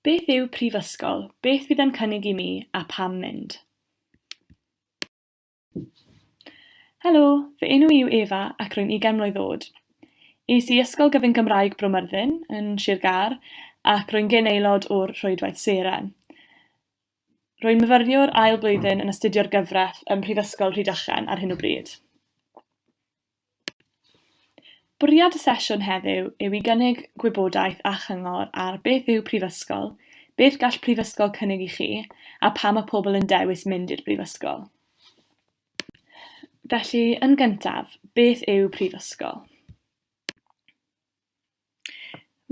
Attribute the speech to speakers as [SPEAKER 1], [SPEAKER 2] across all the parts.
[SPEAKER 1] Beth yw prifysgol, beth fydd e'n cynnig i mi a pam mynd? Helo, fy enw i yw Efa ac rwy'n ugain mlwydd oed. Es i Ysgol Gyfun Gymraeg Bro Myrddin yn Sir Gâr ac rwy'n gyn aelod o'r Rhwydwaith Seren. Rwy'n myfyriwr ail blwyddyn yn astudio'r gyfraith ym Mhrifysgol Rhydychen ar hyn o bryd. Bwriad y sesiwn heddiw yw i gynnig gwybodaeth a chyngor ar beth yw prifysgol, beth gall prifysgol cynnig i chi, a pam mae pobl yn dewis mynd i'r brifysgol. Felly, yn gyntaf, beth yw prifysgol?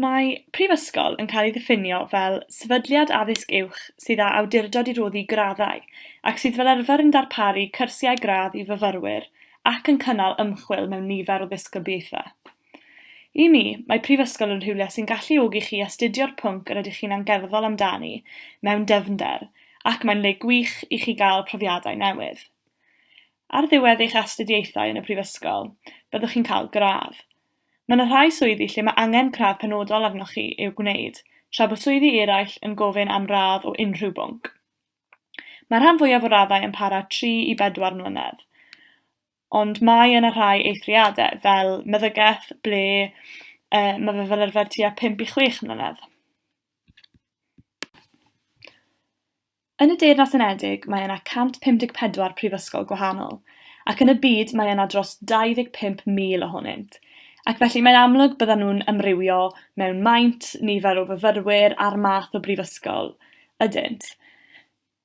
[SPEAKER 1] Mae prifysgol yn cael ei ddiffinio fel sefydliad addysg uwch sydd â awdurdod i roddi graddau ac sydd fel arfer yn darparu cyrsiau gradd i fyfyrwyr ac yn cynnal ymchwil mewn nifer o ddisgyblaethau. I mi, mae prifysgol yn rhywle sy'n galluogi chi astudio'r pwnc yr ydych chi'n angerddol amdani mewn dyfnder ac mae'n le gwych i chi gael profiadau newydd. Ar ddiwedd eich astudiaethau yn y prifysgol, byddwch chi'n cael gradd. Mae yna rhai swyddi lle mae angen cradd penodol arnoch chi i'w gwneud, tra bod swyddi eraill yn gofyn am radd o unrhyw bwnc. Mae'r rhan fwyaf o raddau yn para tri i bedwar mlynedd, ond mae yna rhai eithriadau, fel meddygaeth, ble yy ma' fe fel arfer tua pump i chwech mlynedd. Yn y Deyrnas Unedig mae yna 154 prifysgol gwahanol, ac yn y byd mae yna dros 25,000 ohonynt, ac felly mae'n amlwg byddan nhw'n amrywio mewn maint, nifer o fyfyrwyr a'r math o brifysgol ydynt.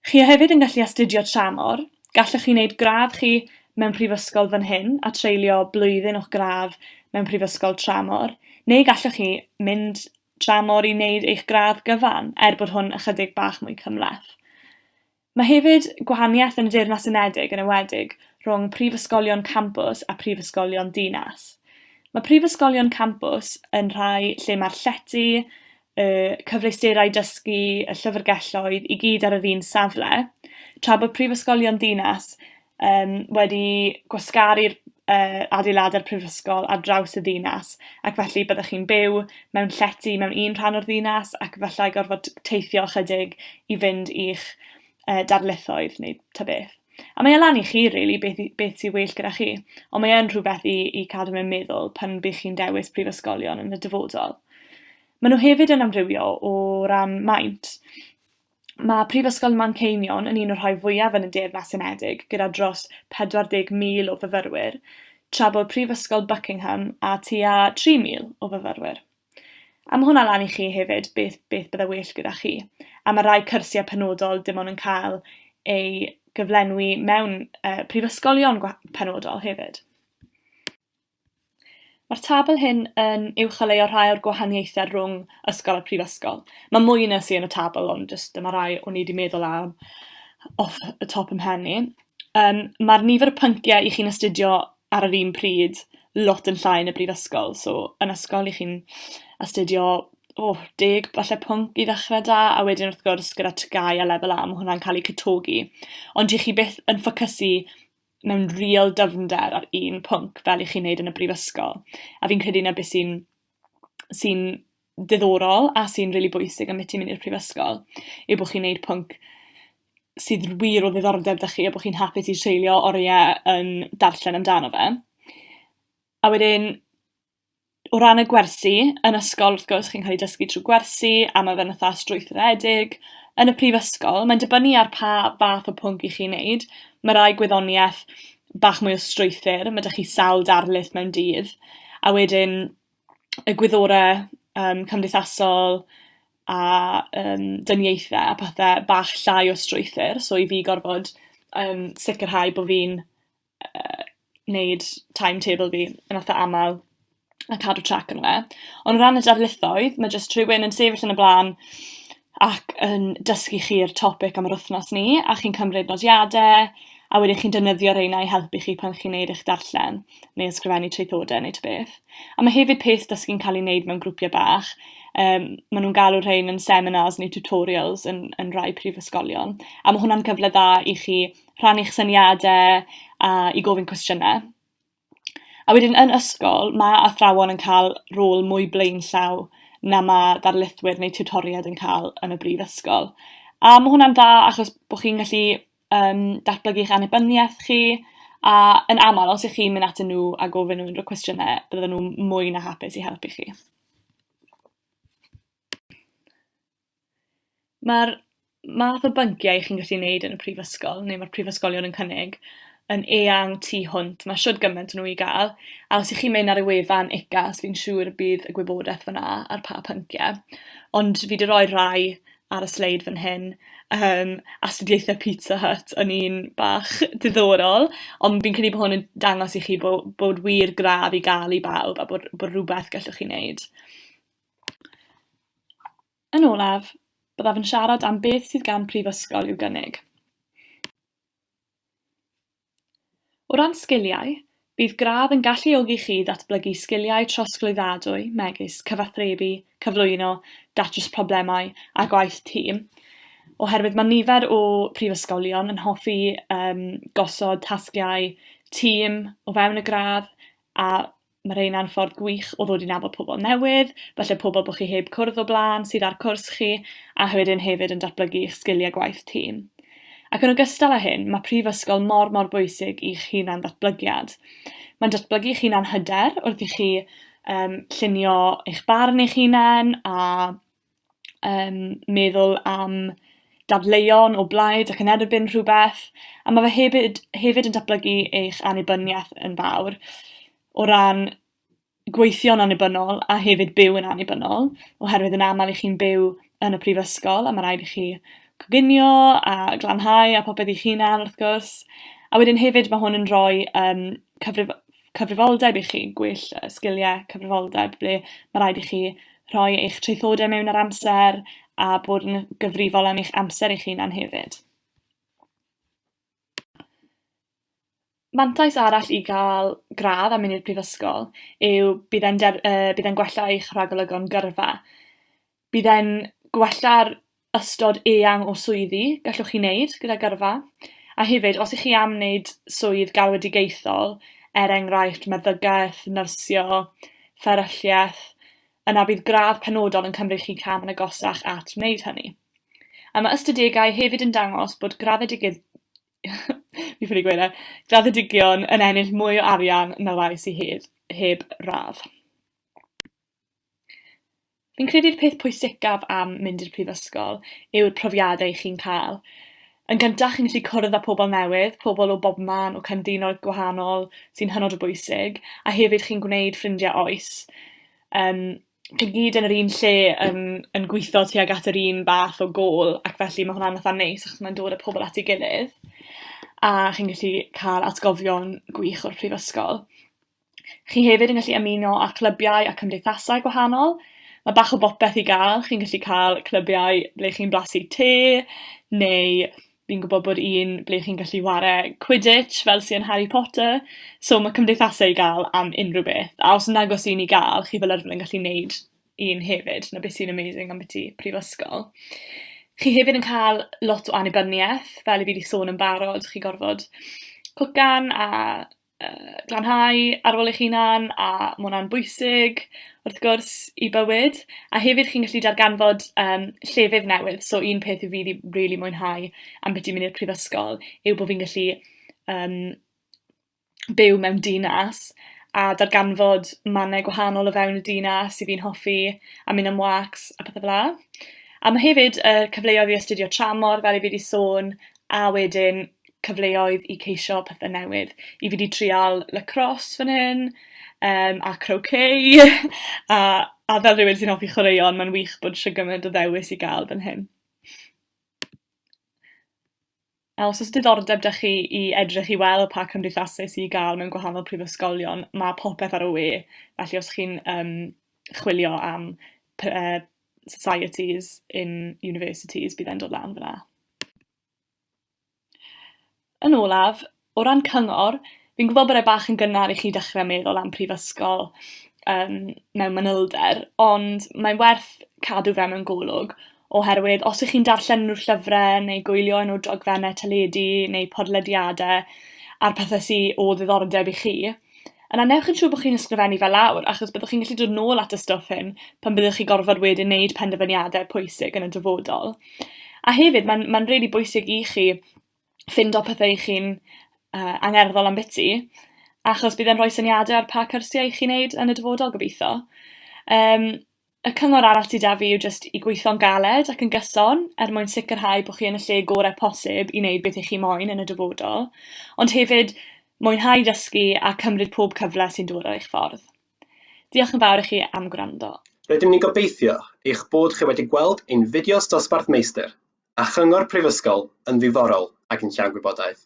[SPEAKER 1] Chi a hefyd yn gallu astudio tramor, gallwch chi wneud gradd chi mewn prifysgol fan hyn a treulio blwyddyn o'ch gradd mewn prifysgol tramor, neu gallwch chi mynd dramor i wneud eich gradd gyfan, er bod hwn ychydig bach mwy cymhleth. Mae hefyd gwahaniaeth yn y Deyrnas Unedig yn enwedig rhwng prifysgolion campws a phrifysgolion dinas. Mae prifysgolion campws yn rhai lle mae'r llety, y cyfleusterau dysgu, y llyfrgelloedd i gyd ar yr un safle, tra bod prifysgolion dinas yym wedi gwasgaru'r yy adeilad a'r prifysgol ar draws y ddinas, ac felly byddech chi'n byw mewn llety mewn un rhan o'r ddinas, ac efallai gorfod teithio ychydig i fynd i'ch yy darlithoedd neu ta beth. A mae e lan i chi rili beth i- beth sy'n well gyda chi, ond mae e'n rhywbeth i i cadw mewn meddwl pan by' chi'n dewis prifysgolion yn y dyfodol. Maen nhw hefyd yn amrywio o ran maint. Ma' Prifysgol Manceinion yn un o'r rhai fwyaf yn y Deyrnas Unedig, gyda dros 40,000 o fyfyrwyr, tra bod Prifysgol Buckingham â tua 3,000 o fyfyrwyr. A ma' hwnna lan i chi hefyd, beth beth bydde well gyda chi. A ma' rai cyrsiau penodol dim ond yn cael eu gyflenwi mewn yy prifysgolion gwa- penodol hefyd. Mae'r tabl hyn yn uwcholeuo rhai o'r gwahaniaethau rhwng ysgol a prifysgol. Mae mwy na sy yn y tabl, ond jyst dyma rai o'n i wedi meddwl am off y top yn mhen i. Yym, mae'r nifer y pynciau 'ych chi'n astudio ar yr un pryd lot yn llai yn y brifysgol. So, yn ysgol 'ych chi'n astudio, o, deg falle pwnc i ddechrau 'da, a wedyn wrth gwrs gyda TGAU a Lefel A ma' hwnna'n cael eu cytogi. Ond 'ych chi byth yn ffocysu mewn real dyfnder ar un pwnc fel 'ych chi'n neud yn y brifysgol, a fi'n credu 'na be' sy'n sy'n ddiddorol a sy'n rili bwysig ambyti ti mynd i'r prifysgol yw bo' chi'n neud pwnc sydd wir o ddiddordeb 'da chi a bo' chi'n hapus i treulio orie yn darllen amdano fe. A wedyn o ran y gwersi, yn ysgol wrth gwrs chi'n cael ei dysgu trwy gwersi a ma' fe'n fatha strwythuredig, yn y prifysgol mae'n dibynnu ar pa fath o pwnc 'ych chi'n neud, ma' rai gwyddonieth bach mwy o strwythur, ma' 'da chi sawl darlith mewn dydd, a wedyn y gwyddore yym cymdeithasol a yym dyniaethe a pethe bach llai o strwythur, so i fi gorfod yym sicirhau bo' fi'n yy neud timetable fi yn itha amal, a cadw trac ano fe. Ond o ran y darlithoedd, ma' jyst rhywun yn sefyll yn y bla'n ac yn dysgu chi'r topic am yr wythnos 'ny, a chi'n cymryd nodiade, a wedyn chi'n defnyddio reina i helpu chi pan chi'n neud eich darllen, neu ysgrifennu traethodau neu ta beth. A ma' hefyd peth dysgu'n ca'l 'i neud mewn grwpie bach, yym ma' nw'n galw rhein yn seminars neu tutorials yn yn rai prifysgolion, a ma' hwnna'n cyfle dda i chi rhannu'ch syniade, a i gofyn cwestiyne. A wedyn yn ysgol ma' athrawon yn ca'l rôl mwy blaenllaw na ma' darlithwyr neu tiwtoried yn ca'l yn y brifysgol, a ma' hwnna'n dda achos bo' chi'n gallu yym datblygu'ch annibyniaeth chi, a yn amal os 'ych chi'n mynd atyn nhw a gofyn nhw unryw cwestiyne bydden nhw'n mwy na hapus i helpu chi. Mae'r math o bynciau chi'n gallu neud yn y prifysgol, neu ma'r prifysgolion yn cynnig, yn eang tu hwnt, ma' shwd gyment o nw i ga'l, a os 'ych chi'n mynd ar y wefan UCAS fi'n siŵr y bydd y gwybodeth fana ar pa pyncie, ond fi 'di roi rhai ar y sleid fan hyn, yym astudiaethe Pizza Hut yn un bach diddorol, ond fi'n credu bo' hwn yn dangos i chi bo' bod wir gradd i ga'l i bawb, a bod bod rwbeth gellwch chi neud. Yn olaf, byddaf yn siarad am beth sydd gan prifysgol i'w gynnig. O ran sgiliau, bydd gradd yn galluogi chi i ddatblygu sgiliau trosglwyddadwy megis cyfathrebu, cyflwyno, datrys problemau a gwaith tîm, oherwydd mae nifer o prifysgolion yn hoffi um, gosod tasgiau tîm o fewn y gradd a mae rheina'n ffordd gwych o ddod i nabod pobl newydd, falle pobl bod chi heb cwrdd o blaen sydd ar cwrs chi, a wedyn hefyd yn datblygu eich sgiliau gwaith tîm. Ac yn ogystal â hyn, mae prifysgol mor mor bwysig i'ch hunan ddatblygiad. Mae'n datblygu eich hunan hyder wrth i chi um, llunio eich barn eich hunan a yym meddwl am dadleuon o blaid ac yn erbyn rhwbeth, a ma' fe hefyd hefyd yn datblygu eich annibyniaeth yn fawr o ran gweithio'n annibynnol a hefyd byw yn annibynnol, oherwydd yn amal 'ych chi'n byw yn y prifysgol a ma' raid i chi coginio a glanhau a popeth eich hunan wrth gwrs, a wedyn hefyd ma' hwn yn rhoi yym cyfrif- cyfrifoldeb i chi, gwell yy sgiliau cyfrifoldeb ble ma' raid i chi rhoi eich traethodau mewn ar amser a bod yn gyfrifol am eich amser eich hunan hefyd. Mantais arall i gael gradd a mynd i'r prifysgol yw bydd e'n der- yy bydd e'n gwella eich rhagolygon gyrfa. Bydd e'n gwella'r ystod eang o swyddi gallwch chi wneud gyda gyrfa, a hefyd, os 'ych chi am wneud swydd galwedigaethol, er enghraifft, meddygaeth, nyrsio, fferylliaeth, yna bydd gradd penodol yn cymryd chi cam yn agosach at wneud hynny. A mae ystadegau hefyd yn dangos bod graddedigy- fi'n ffili gweud e, graddedigion yn ennill mwy o arian na rai sy hedd- heb radd. Fi'n credu'r peth pwysicaf am mynd i'r prifysgol yw'r profiadau chi'n ca'l. Yn gynta chi'n gallu cwrdd â pobol newydd, pobol o bobman, o cyndinoedd gwahanol, sy'n hynod o bwysig, a hefyd chi'n gwneud ffrindie oes. Yym, chi gyd yn yr un lle yn yn gwitho tuag at yr un fath o gôl, ac felly ma' hwnna'n itha neis achos ma'n dod â pobol at 'i gilydd, a chi'n gallu ca'l atgofion gwych o'r prifysgol. Chi hefyd yn gallu ymuno â chlybiau a cymdeithasau gwahanol. Mae bach o bopeth i gael, chi'n gallu cael clybiau ble chi'n blasu te, neu fi'n gwbo bod un ble chi'n gallu whare quidditch fel sy yn Harry Potter, so ma' cymdeithase i ga'l am unryw beth. A os yn agos un i ga'l, chi fel arfer yn gallu neud un hefyd, 'na beth sy'n amazing ambyti prifysgol. Chi hefyd yn ca'l lot o annibyniaeth, fel 'yf fi 'di sôn yn barod, chi gorfod cwcan a yy glanhau ar ôl eich hunan, a ma' hwnna'n bwysig wrth gwrs i bywyd, a hefyd chi'n gallu darganfod yym llefydd newydd, so un peth fi 'di rili mwynhau ambiti mynd i'r prifysgol yw bo' fi'n gallu yym byw mewn dinas a darganfod mannau gwahanol o fewn y dinas 'yf fi'n hoffi, a mynd am wâcs a pethe fela. A ma' hefyd y cyfleodd i astudio tramor fel 'yf fi 'di sôn, a wedyn cyfleoedd i ceisio pethe newydd. I fi 'di trial lacrosse fan hyn yym a croquet a a fel rhywun sy'n offi chwaraeon ma'n wych bod shwd gymaint o ddewis i ga'l fan hyn. A os o's diddordeb 'da chi i edrych i weld pa cymdeithase sy i ga'l mewn gwahanol prifysgolion ma' popeth ar y we felly os chi'n yym chwilio am py- yy societies in universities bydd e'n dod lan fan 'na. Yn olaf, o ran cyngor, fi'n gwbod bod e bach yn gynnar i chi dechre meddwl am prifysgol yym mewn manylder, ond mae'n werth cadw fe mewn golwg, oherwydd os 'ych chi'n darllen unryw llyfre neu gwylio unryw dogfenne teledu neu podlediade a'r pethe sy o ddiddordeb i chi, Yna newch yn siŵr bod chi'n ysgrifennu fe lawr, achos byddwch chi'n gallu dod nôl at y stwff hyn pan fyddwch chi gorfod wedyn wneud penderfyniadau pwysig yn y dyfodol. A hefyd, mae'n mae'n rili really bwysig i chi ffindo pethau chi'n uh, angerddol am biti, achos bydd e'n rhoi syniadau ar pa cyrsiau i chi'n neud yn y dyfodol gobeithio. Um, Y cyngor arall sy 'da fi yw jyst i gweitho'n galed ac yn gyson er mwyn sicrhau bo' chi yn y lle gore' posib i neud beth 'ych chi moyn yn y dyfodol, ond hefyd mwynhau dysgu a cymryd pob cyfle sy'n dod ar eich ffordd. Diolch yn fawr i chi am gwrando. Rydym ni'n gobeithio
[SPEAKER 2] eich bod chi wedi gweld ein fideos Dosbarth Meistr a Chyngor Prifysgol yn ddiddorol ac yn llawn gwybodaeth.